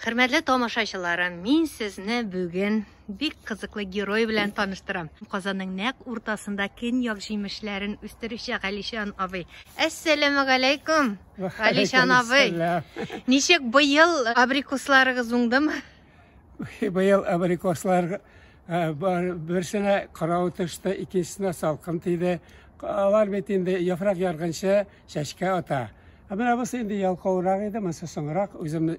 Хөрмәтле тамашачыларым, мин сезне бүген бик кызыклы герой белән таныштырам. Казанның нәк уртасында көньяк җимешләрен үстерүче Галишан абый. Әссәламу алейкум, Галишан абый. Ничек быел абрикосларыгыз уңдымы? Быел абрикослар берсенә карау төште, икенчесенә салкын тиде. Алар бит инде яфрак ярганчы Чәчкә ата. Ә менә бусы инде ялкаурак иде, монысы соңрак, үзем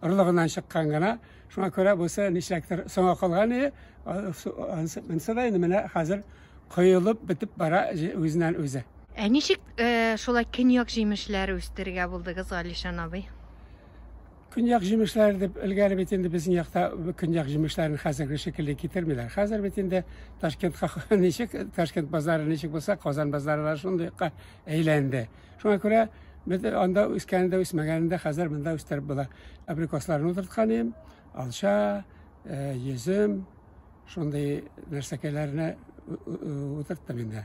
орлыгыннан чыккан гына. Шуңа күрә бусы нишләктер соңа калган иде. Монысы да инде менә хәзер коелып бетеп бара үзеннән үзе. Ә ничек э, шулай көньяк җимешләре үстерергә булдыгыз, Алишан абый? Көньяк җимешләре дип элгәре бит инде безнең якта көньяк җимешләрен хәзерге шикелле китермиләр. Хәзер бит инде Ташкентка ничек Ташкент базары ничек булса, Казан базары да шундый әйләнде. Шуңа күрә без анда үскәнендә, үсмәгәнендә хәзер монда үстереп була. Абрикосларны утырткан идем, алча, э, йөзем, шундый нәрсәкәйләрне утырттым инде.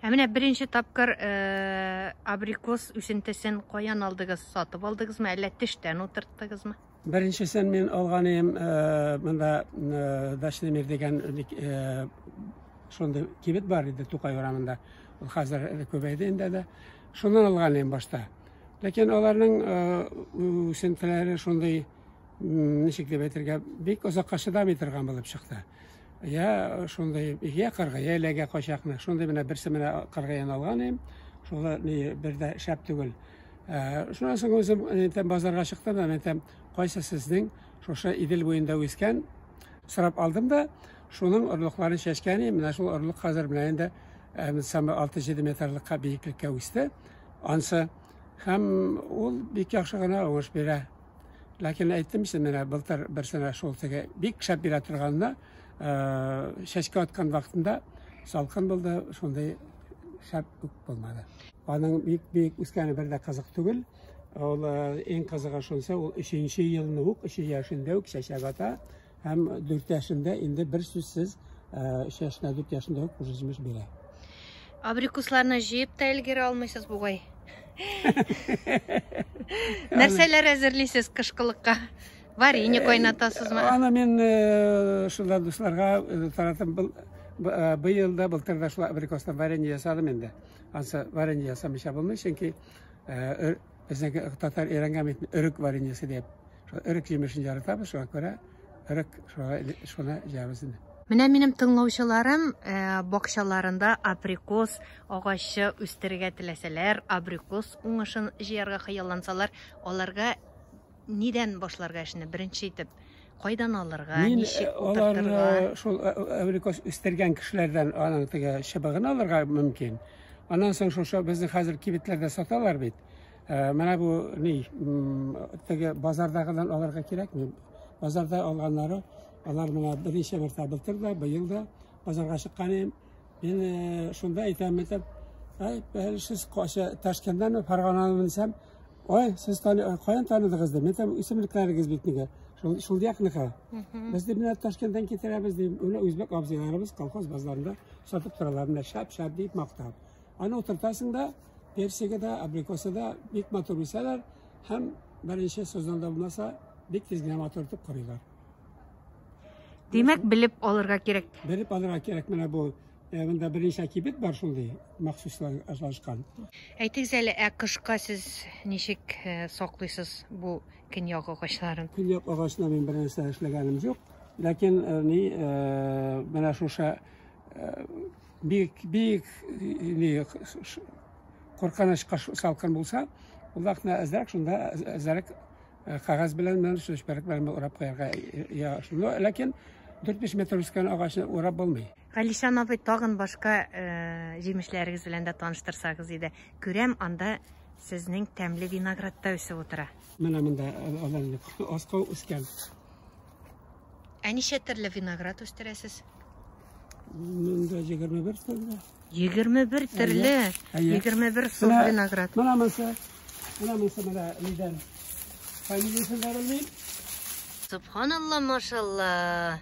Ә менә беренче тапкыр э, абрикос үсентесен каян алдыгыз? Сатып алдыгызмы, әллә тештән утырттыгызмы? Беренчесен мин алган идем, э, монда э, Дачный мир дигән бик, э, шундый кибет бар иде Тукай урамында. Ул хәзер күбәйде инде дә. Шуннан алган идем башта. Ләкин аларның э, үсентеләре шундый, м, ничек дип әйтергә, бик озакка чыдамый торган булып чыкты. Я шундый я кырга, я эләгә качакны. Шундый менә берсе менә кырга яналган им. Шулы ни бер дә шәп түгел. Э, шуннан соң үзем әйтәм базарга чыктым да әйтәм, кайсы сезнең шушы Идел буенда үскән сорап алдым да, шуның орлыкларын чәчкән им. Менә шул орлык хәзер менә инде э, самы 6-7 метрлыкка биеклеккә үсте. Ансы һәм ул бик яхшы гына уңыш бирә. Ләкин әйттем син менә былтыр берсенә шул теге бик шәп бирә торганына э, чәчкә аткан вакытында салкын булды, шундый шәп үк булмады. Аның бик бик үскәне бер дә кызык түгел. Ул э, иң кызыгы шунсы, ул 3 елны ук, 3 яшендә үк чәчәк ата. Һәм 4 яшендә инде бер сүзсез 3 яшенә 4 яшендә үк күрсәтмеш бирә. Абрикусларны җыеп та өлгерә алмыйсыз бугай. Нәрсәләр әзерлисез кышкылыкка? Варенье кайнатасызмы? Аны мин э, шунда дусларга э, таратып был э, быел да былтыр да шулай абрикостан варенье ясадым инде. Ансы варенье ясамыйча булмый, чөнки Безнеке татар өйрәнгән бит, өрек вареньесы дип. Шул өрек җимешен яратабыз, шуңа күрә өрек шуны җыябыз инде. Менә минем тыңлаучыларым э, бакчаларында абрикос агачы үстерергә теләсәләр, абрикос уңышын җыярга хыяллансалар, аларга Нидән башларга эшне беренче итеп? Кайдан алырга, Мин ничек э, утыртырга? Алар э, шул әврикос э, үстергән кешеләрдән аның теге чыбыгын алырга мөмкин. Аннан соң шушы безнең хәзер кибетләрдә саталар бит. Менә бу ни, теге базардагыдан алырга кирәкми. Базарда алганнары, алар менә берничә мәртәбә былтыр да, быел да базарга чыккан идем. Мин шунда әйтәм, әйтәм, Ай, бәлшіз қошы Ташкенттен Фарғананы мінсем, Ой, сез тани, ой, каян таныдыгыз да? Мен там исемлекләрегез бит нигә? Шул шул якныкы. Без дип менә Ташкенттан китерәбез дип, менә үзбәк абзыйларыбыз колхоз базарында сатып торалар, менә шап-шап дип мактап. Аны утыртасың да, персиге дә, абрикосы да бик матур үсәләр һәм беренче сезонда булмаса, бик тиз генә матур итеп корыйлар. Димәк, белеп алырга кирәк. Белеп алырга кирәк менә бу Ә монда берничә кибет бар шундый, махсуслар ашалышкан. Әйтегез әле, ә кышка сез ничек э, саклыйсыз бу көньяк агачларын? Көньяк агачны мин бернәрсә эшләгәнем юк. Ләкин э, ни э, менә шуша бик бик ни куркынычка салкын булса, ул вакытта әзрәк шунда әзрәк кагаз белән мен сүчбәрәк белән урап куярга. Я, шуны ләкин 4-5 метр үскән агачны урап булмый. Галишан абый, тагын башка җимешләрегез белән дә таныштырсагыз иде. Күрәм, анда сезнең тәмле виноград та үсеп утыра. Менә монда аланлык аска үскән. Ә ничә төрле виноград үстерәсез? Монда 21 төрле. 21 төрле. 21 сорт виноград. Менә монсы. Менә монсы менә нидән. Фамилиясен дә белмим. Субханалла, машалла.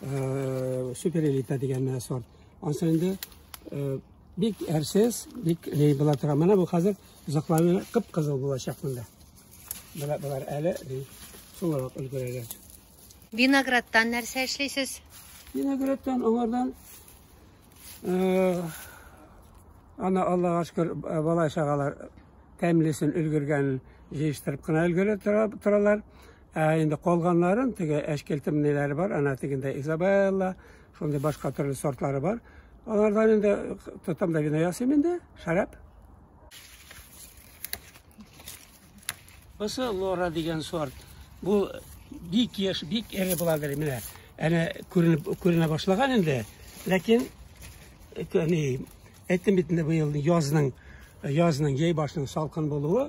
суперэлита дигән менә сорт. Ансы инде бик әрсез, бик лей була тора. Менә бу хәзер озакларны кып-кызыл булачак монда. Менә болар әле сулырак өлгерәләр. Виноградтан нәрсә эшлисез? Виноградтан аңардан ана Аллага шөкер бала чагалар тәмлесен өлгергән җыештырып кына өлгерә торалар. Ә инде калганнарын, теге әчкелтем ниләре бар, ана тегендә Изабелла, шундый башка төрле сортлары бар. Алардан инде тотам да вино ясыйм инде, шәраб. Бусы Лора дигән сорт. Бу бик яш, бик эре буладыр менә. Әнә күренеп күренә башлаган инде. Ләкин әни әйтте бит инде быел язның язның яй башының салкын булуы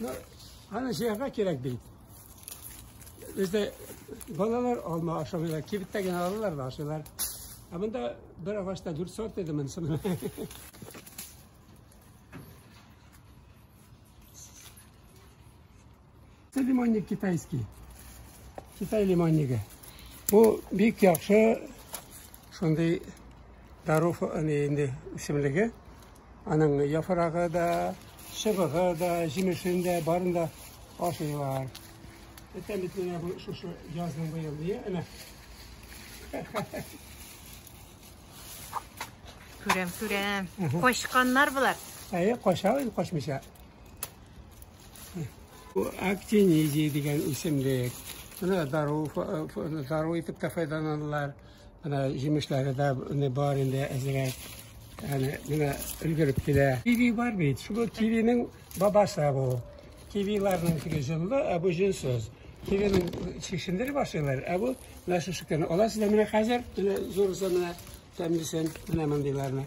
Ну, аны җыярга кирәк бит. Бездә балалар алма ашамыйлар, кибеттә генә алалар да ашыйлар. Ә монда бер агачта дүрт сорт иде монысы. Це лимонник китайський. Китай лимоннигы. Бу бик яхшы шундый дару инде исемлеге. Аның яфрагы да, чыбыгы да, җимешен дә, барын да ашыйлар. Эттән бит менә бу шушы язның быел дия, әнә. Күрәм, күрәм. Качканнар болар. Әйе, кача, качмыйча. Бу актинизия дигән исемлек. Шуны дару, дару итеп тә файдаланалар. Менә җимешләре дә менә бар инде әзрәк. Әле менә өлгереп килә. Киви бар бит. Шул кивинең бабасы бу. Кивиларның шиге җыллы, ә бу җилсез. Кивинең шикшендер башлыйлар, ә бу менә шушыкны. Аласыз да менә хәзер, менә зурысы менә тәмлесен, менә мондыйларны.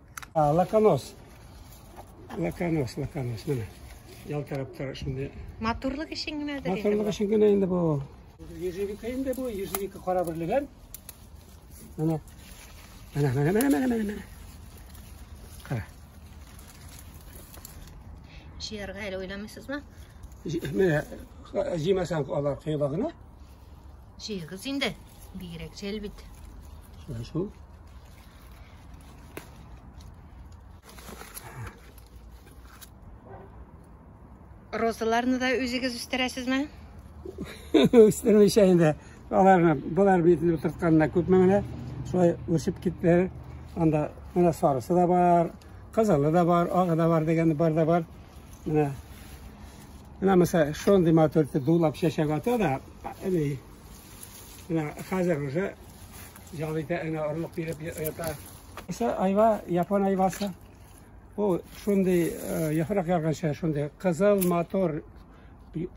Лаканос. Лаканос, лаканос, менә. Ял тараптары шундый. Матурлык өчен генә дә. Матурлык өчен генә инде бу. Ежевика инде бу, ежевика кара берлеген. Менә. Менә, менә, менә, менә, менә, менә. Кара. Җыярга әле уйламыйсызмы? Менә, җыймасаң алар кыйлагына. Җыйгыз инде. Бигрәк җәл бит. Шул. Розаларны да үзегез үстерәсезме? Үстермичә инде. Аларны болар битне утыртканына күпме менә шулай үсеп киттеләр. Анда менә сарысы да бар, кызылы да бар, агы да бар дигән бар да бар. Менә менә мәсәлән шундый матур дулап чәчәк ата да, менә хәзер уже Җал итә, әнә орлык биреп ята. Исә айва, япон айвасы. Бу шундый э, яфрак ярганча, шундый кызыл мотор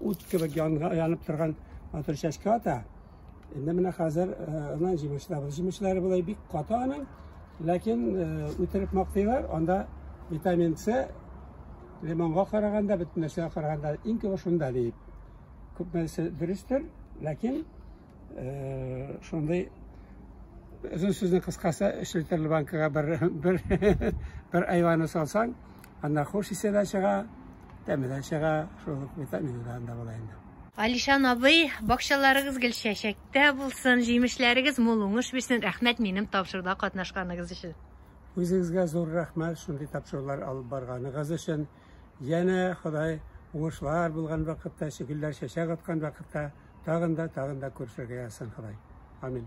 ут кебек янып торган матур чәчкә ата. Инде менә хәзер аннан җимешләбез. Җимешләре болай бик каты аның, ләкин үтереп мактыйлар, анда витамин С лимонга караганда, бөтен нәрсәгә караганда иң күбе шунда диеп. Күпмесе дөрестер, ләкин шундый озын сүзне кыскасы эшелтерле банкага бер бер бер айваны салсаң анда хуш исе дә чыга тәме дә чыга шул ук витамины да анда була инде Алишан абый, бакчаларыгыз гел чәчәктә булсын, җимешләрегез мул уңыш бирсен. Рәхмәт минем тапшыруда катнашканыгыз өчен. Үзегезгә зур рәхмәт шундый тапшырулар алып барганыгыз өчен. Янә Ходай уңышлар булган вакытта, гөлләр чәчәк аткан вакытта Тагын да, тагын да күрешергә язсын Ходай. Амин.